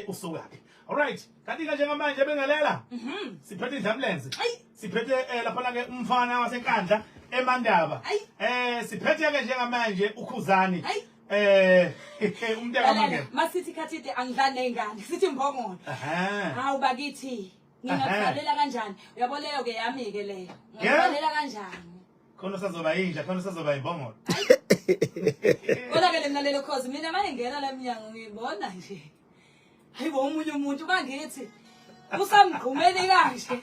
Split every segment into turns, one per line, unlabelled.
usukaphi alright kanti-ke njengamanje bengelela mhm. siphethe idlamlenze siphethe um eh, laphana-ke umfana wasenkandla emandaba um siphethe-ke njengamanje ukhuzani Eh, eh umntaka manje. Masithi khathide angidlali
nezingane. Sithi mbongolo. Aha. Hawu bakithi. Ngingakhalela kanjani? Uyabo leyo ke yami ke leyo. Ngingakhalela kanjani? khona usazoba
yinja khona usazoba yibongolo
konakele mina lelo cause mina manje ngena la mnyango ngibona nje hayibo omunye umuntu bangithi usamgqumeni kanje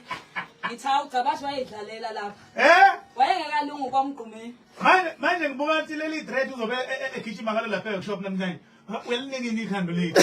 ngithi hawu gcabasho wayedlalela lapha eh wayengekalungu kwamgqumeni manje manje ngibuka
ukuthi leli dread uzobe e- e- egijima ngalo lapha ekushop namhlanje uyalinike ikhando lethu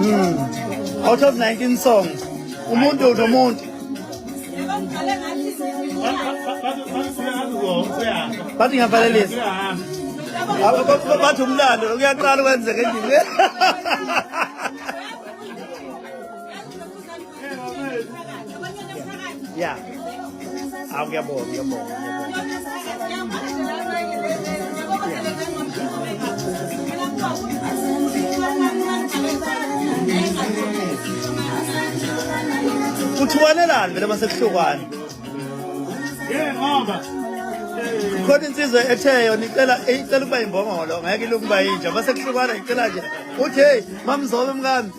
Mm. Out of 19 songs, umuntu nomuntu. Bathi ngiyavalelisa. Bathi umlando kuyaqala kwenzeka endlini. Yeah. I'll get more, get more, get more. kuthiwanelani vele masekuhlukwane
khona
insizwe etheyo nicela icela ukuba imbongolo ngeke ilokuba yinja masekuhlukwana icela nje uthi heyi mamzobe mkami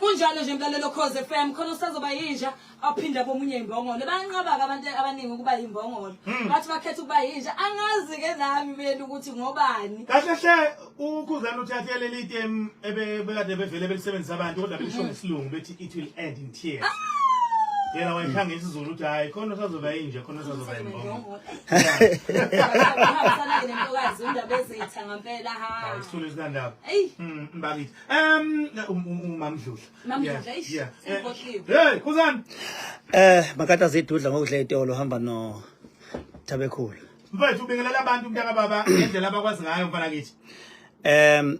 kunjalo nje mlalelo cause fm khona usazoba yinja aphinde abomunye imbongolo banqabaka abantu abaningi ukuba yimbongolo hmm. bathi bakhetha ukuba yinja angazi-ke nami mina ukuthi ngobani kahle hle
ukhuzana uthathe leli item ebekade bevele belisebenzisa abantu kodwa belisho ngesilungu bethi it will end in tears ah! yena wayikhanga isizulu ukuthi hayi khona usazoba yinje khona usazoba yimbongo
isithulu esinandaba
hmm, mbakithi um umamdludla hey khuzani um
makata zidudla ngokudla itolo hamba no thabekhulu
mfethu ubingelela abantu mntaka baba ngendlela
abakwazi ngayo mfana kithi um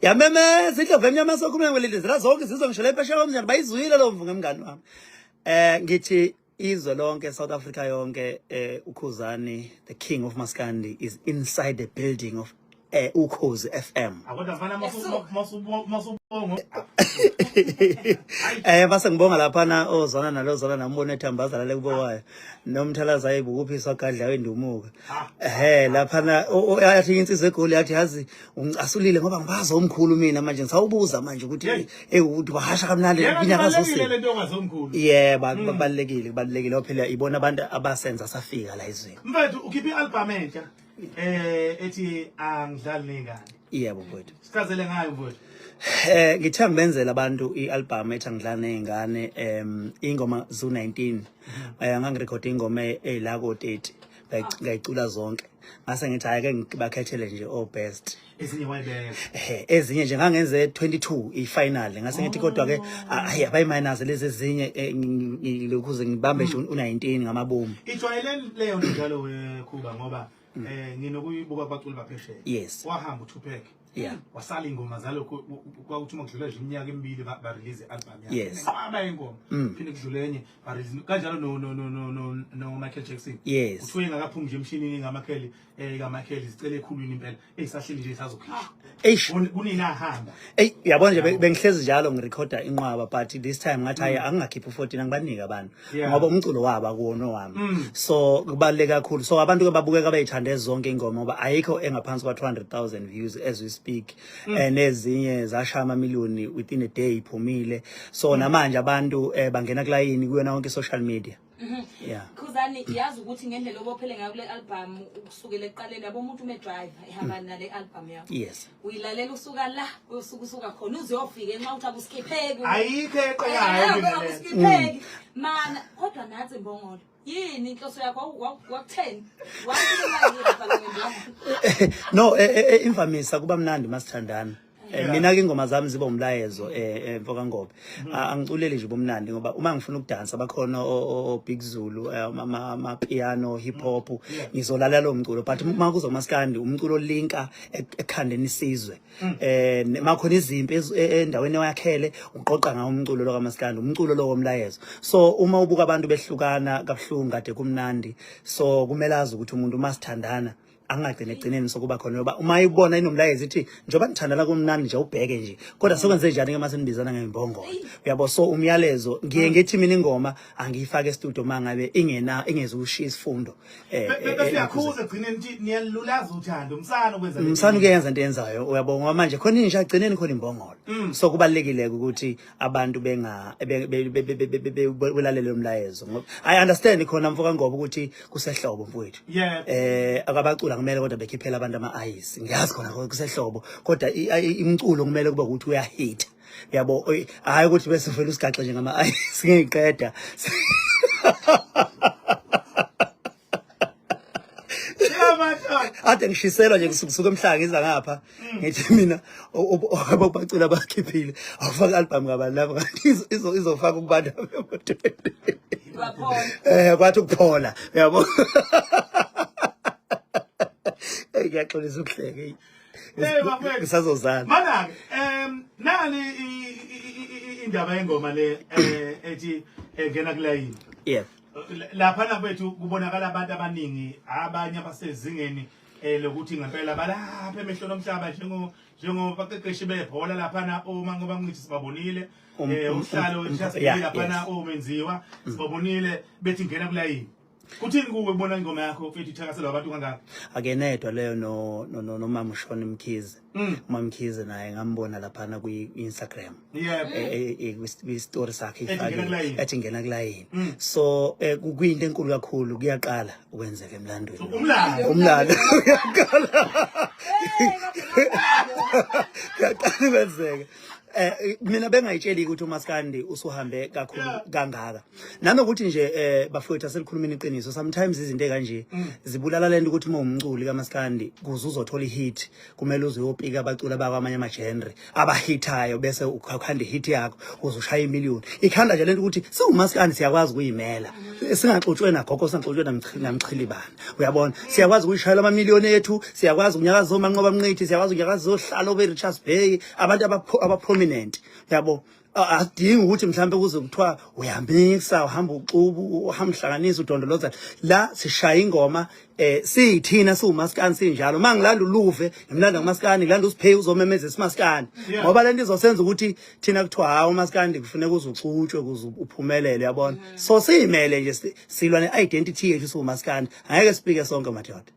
yamemeza indlovu emnyama sokhuluma ngwelindizela zonke izizwe ngisho le phesheya komnyana bayizwile lo mvu ngemngani wami um ngithi izwe lonke south africa yonke um ukhuzani the king of maskandi is inside the building of eh ukhozi FM eh base ngibonga lapha na ozana nalozana nambona ethambaza lale kubo wayo nomthalaza ayibukuphiswa agadla wendumuka eh lapha na athi insizwe egoli athi yazi ungicasulile ngoba ngibaza umkhulu mina manje ngisawubuza manje ukuthi ewuthi eh, bahasha kamnandi kunyaka zose yeah hmm. babalekile kubalekile ophela ibona abantu abasenza safika la izweni mfethu ukhipha i album
entsha eh ethi angidlali nengane yebo mfowethu
sichazele ngayo mfowethu
eh ngithe
ngibenzela abantu ialbum ethi angidlali nengane em ingoma zu 19 mhm. eh ngangirecord ingoma elako 30 ngayicula zonke ngase ngithi ayike ngibakhethele nje o oh, best ezinye wayibeka
ehe ezinye nje
ngangenze 22 ifinal ngase ngithi kodwa ke hayi abayi minus lezi ezinye eh, ngilokhuze ngibambe nje u19 ngamabomu ijwayele leyo nto
njalo wekhuba ngoba mm. eh nginokuyibuka kwaculi baphesheya yes wahamba
uTupac
yeah wasala ingoma zalo kwakuthi uma kudlula nje iminyaka emibili ba release album yakhe yes qaba ingoma
mm.
phinde kudlule enye ba release kanjalo no no no no no Michael Jackson yes uthuye ngakaphumi
nje emshinini
ngamakheli eh kaMichael sicela ekhulwini impela eyisahleli nje sazokhishwa eish kunina ahamba ey yabona nje
bengihlezi njalo ngirecorda inqwaba but this time ngathi hayi mm. angingakhipha u14 angibanike abantu ngoba umculo waba kuwona wami mm. so kubaleka kakhulu so abantu ke babukeka bayithande zonke ingoma ngoba ayikho engaphansi kwa 200000 views as we speak mm. eh, nezinye zashaya ama million within a day iphumile so namanje abantu eh, bangena kulayini kuyona yonke social media Mhm. yeah khuzani
yazi ukuthi ngendlela obophele ngayo kule album ukusukela eqaleni yabo umuntu ume driver ehamba mm. nale album yakho yes uyilalela
usuka la
usuka usuka khona uziyofika nxa uthi akusikipheki ayikho eqalayo
akusikipheki
mm. mana kodwa nathi mbongolo yini inhloso yakho wakutheni
no e, e, e, imvamisa kuba mnandi masithandana Eh, mina ke ingoma zami ziba umlayezo eh, eh mfoka Ngobe mm-hmm. ah, angiculeli nje bomnandi ngoba uma ngifuna ukudansa bakhona o Big Zulu eh, ama piano hip hop mm-hmm. ngizolalela lo mculo but mm-hmm. uma kuzo maskandi umculo linka e-, ekhandeni isizwe mm. eh makhona izimpi e-, endaweni eyakhele uqoqa ngawo umculo lo kamaskandi umculo lo womlayezo so uma ubuka abantu behlukana kabuhlungu kade kumnandi so kumele azi ukuthi umuntu uma sithandana angagcine egcineni sokuba khona yoba uma ibona inomlayezo ithi njengoba nithandana kumnandi nje ubheke nje kodwa sekwenze njani ke mase nibizana ngembongolo uyabo so umyalezo ngiye mm. ngithi mina ingoma angiyifake estudio mangabe ingena ingeze ushiya isifundo eh, eh, eh besiyakhuza egcineni
ukuthi niyalulaza uthando umsana ukwenza umsana uyenza into yenzayo
uyabo ngoba manje khona inja agcineni khona imbongolo mm. so kubalekile ukuthi abantu benga belalele lo mlayezo ngoba i understand khona mfoka ngoba ukuthi kusehlobo mfowethu eh akabacula kumele kodwa bekhiphela abantu ama eyes ngiyazi khona kusehlobo kodwa imculo kumele kube ukuthi uyahit yabo hayi ukuthi bese ufela usigaxe nje ngama eyes ngiqeda ade ngishiselwa nje kusukusuka emhlanga ngiza ngapha mm. ngithi mina ababacula bakhiphile awufaka album ngabani lapho izofaka ukubantu abemotweni eh kwathi ukuphola yabo hey ngiyaxolisa ukuhleke ngisazozala mana-ke
um nani indaba yengoma le um ethi engena kulayini yeah
laphana
kwethu kubonakala abantu abaningi abanye abasezingeni eh lokuthi ngempela balapha emehlweni omhlaba njengo njengobaqeqeshi bebhola laphana uma ngoba ngithi sibabonile um, eh um, uhlalo um, ngisasibili laphana omenziwa mm. sibabonile bethi ngena kulayini Kuthini kuwe kubona ingoma yakho mfethu ithakaselwa abantu kangaka? Akenedwa leyo
no no nomama uShona Mkhize. Mm. umamkhize naye ngambona laphana kwi-instagram yebo eh, eh, eh, kwi- kwi-story sakhe Ethi ngena ifakile, kulayini. ethi ngena kulayini Mm. so eh, ku- kuyinto enkulu kakhulu kuyaqala ukwenzeka emlandweni umlando umlando uyaqala uyaqala ukwenzeka Eh, mina bengayitsheli ukuthi umaskandi usuhambe kakhulu kangaka nanokuthi nje eh bafowethu aselikhulumeni iqiniso sometimes izinto ekanje mm. zibulala lento ukuthi uma umculi kamaskandi kuze uzothola ihit kumele uze uyopika abaculi abakwamanye amagenre abahithayo bese ukhanda ihit yakho uze ushaya imillion ikhanda nje lento ukuthi siwumaskandi siyakwazi ukuyimela mm. singaxutshwe nagogo singaxutshwe namchili bani uyabona siyakwazi ukuyishayela amamillion ethu siyakwazi unyaka zomanqoba mnqithi siyakwazi unyaka zohlala obe Richards Bay abantu abaprominent yabo adingi ukuthi mhlawumbe kuze kuthiwa uyamikisa uhamba uxubu uhamba uhlanganisa udondoloza la sishaya ingoma eh siyithina siwumaskani sinjalo uma ngilanda uluve ngimlanda ngomaskani ngilanda usiphe uzomemeza isimaskani ngoba lento izosenza ukuthi thina kuthiwa hawo umaskani kufuneka uze uxutshwe kuze uphumelele yabona mm. so siyimele nje silwa ne identity yethu siwumaskani angeke sipike sonke madoda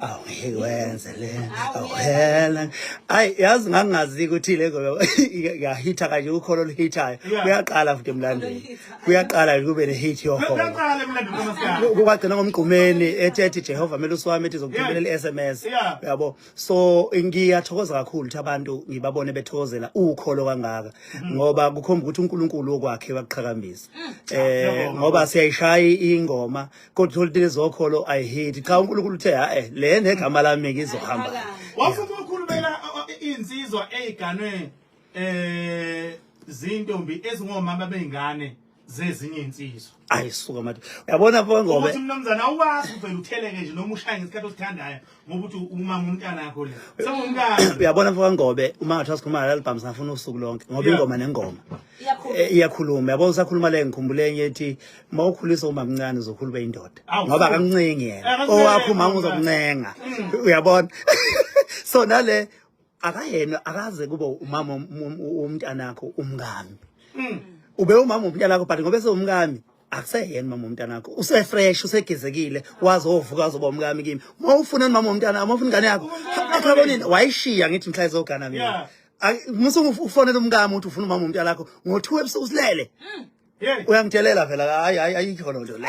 awungeke wenze le awuhela ayi yazi ngangingazi ukuthi le ngoba ngiyahitha kanje ukholo oluhithayo kuyaqala futhi emlandweni kuyaqala kube ne-hit yoholo
kukwagcina ngomgqumeni
ethi ethi jehova mele usiwami ethi zokuthumelela i-s m s uyabo so ngiyathokoza kakhulu ukuthi abantu ngibabone bethokozela ukholo kangaka mm. ngoba kukhomba ukuthi unkulunkulu okwakhe wakuqhakambisa um ngoba siyayishaya ingoma kodwa olutini ezokholo i hate cha uNkulunkulu uthe hae eh, le negama lami ngizohamba wafuma
ukhulumela insizwa eziganwe eh zintombi ezingomama bengane zezinye insizwa ayisuka manje
uyabona bongobe ukuthi umnumzana uwazi
uvela utheleke nje noma ushaya ngesikhathi osithandayo ngoba uthi umama umntana yakho le sengumntana uyabona mfoka ngobe
uma ngathi wasikhuluma ngalo album singafuna usuku lonke ngoba ingoma nengoma eh, iyakhuluma yabona usakhuluma le ngikhumbule enye ethi uma ukhulisa uma mncane uzokhulube indoda ngoba akamncengi yena eh, owakho umama uzokuncenga mm. uyabona so nale akayena akaze kube umama umntanakho umngami mm. ube umama umntanakho but ngobe sewumngami akuseyena mama womntana wakho usefresh usegezekile wazi ovuka azoba umkami kimi uma ufuna mama womntana uma ufuna ingane yakho akhabonini wayishiya ngithi mhla izogana mina musa ufonela umkami uthi ufuna umama womntana wakho ngo-two ebusuku usilele hmm. uyangidelela phela hayi hayi ayikho loo nto le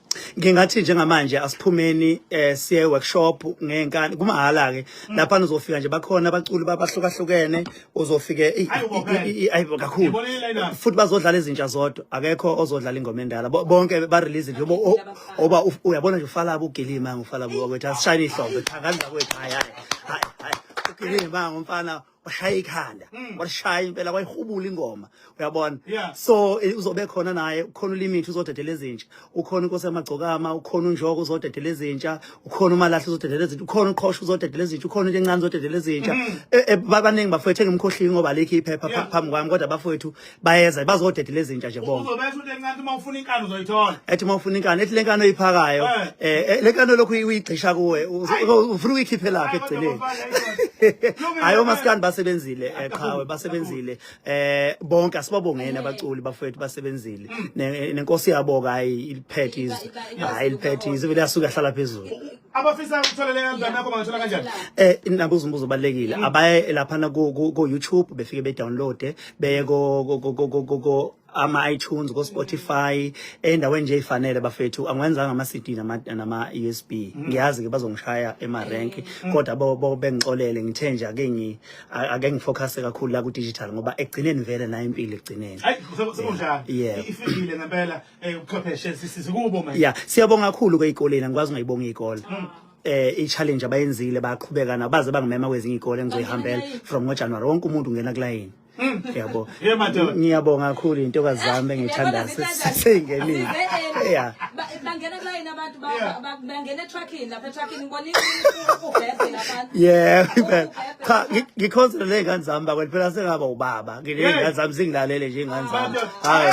ngingathi njengamanje
asiphumeni eh siye workshop ngenkani kumahhala ke mm. lapha nizofika nje bakhona abaculi babahlukahlukene uzofike ayibo kakhulu futhi bazodlala izinja zodwa akekho ozodlala ingoma endala bonke ba release nje oba uyabona nje ufala ubugilima ngufala kwethu asishayini ihlombe cha kanza kwethu hayi hayi hayi ugilima ngumfana washaya ikhanda mm. washaya impela wayihubula ingoma uyabona yeah. so eh, uzobe khona naye ukhona ulimit uzodedela ezintsha ukhona inkosi yamagcokama ukhona unjoko uzodedela ezintsha ukhona umalahle uzodedela ezintsha ukhona uqhosha uzodedela ezintsha ukhona into encane uzodedela ezintsha mm. e, e, babaningi bafowethu engimkhohlile ngoba alikho iphepha yeah. phambi kwami kodwa bafowethu bayeza bazodedela izinja nje bonke uzobetha into encane uma ufuna
inkani uzoyithola ethi uma ufuna inkani ethi
lenkani oyiphakayo eh, eh, eh lenkani lokhu uyigcisha kuwe ufuna uyikhiphe lapha ekugcineni hayi omaskani basebenzile eh, qhawe basebenzile eh bonke asibabongeni abaculi bafowethu basebenzile hmm. nenkosi yabo kayi iliphethe izwe hayi iliphethe izwe vele asuke ahlala phezulu abafisa
ukutholela kanjani nakho bangathola kanjani eh nabuza umbuzo
obalekile mm. abaye laphana ku ku YouTube befike be download beye ko ko ko ama iTunes ko Spotify endaweni nje ifanele bafethu angiwenzanga ama CD nama nama USB mm. ngiyazi ke bazongishaya ema rank mm. kodwa bo bo bengixolele ngithe nje ake ngi ake ngifocus kakhulu la ku digital ngoba ekugcineni vele nayo impilo ekugcineni
hayi sekunjalo ifile ngempela Eh, ubuchwepheshe sisize kubo manje. Yeah, siyabonga kakhulu ke
ikoleni angikwazi ngayibonga ikole. Mm. eh i-challenge abayenzile baqhubeka nabo baze bangimema kwezinye ikole ngizoyihambela from ngojanuwari wonke umuntu ungena kulayini mm. yabo ngiyabonga kakhulu intokazi zami engiyithandayo seyingenile ya bangena
kulayini abantu Bengena etruckini lapha etruckini ngibona ubhebhe labantu. Yeah, impela.
Cha, ngi- ngikhonzile ley'ngane zami bakwethu phela sengaba ubaba. Ngiley'ngane zami zingilalele nje iy'ngane zami. Hhayi.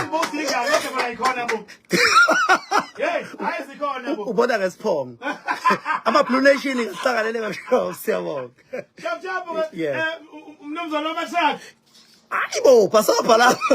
U- Ubona ngesiphongo. Ama-blue nation ngihlanganele kabuhlungu siyabonga. Yeah. mnumzane wamathakhi Hayi
bo, bhasobha
lapho.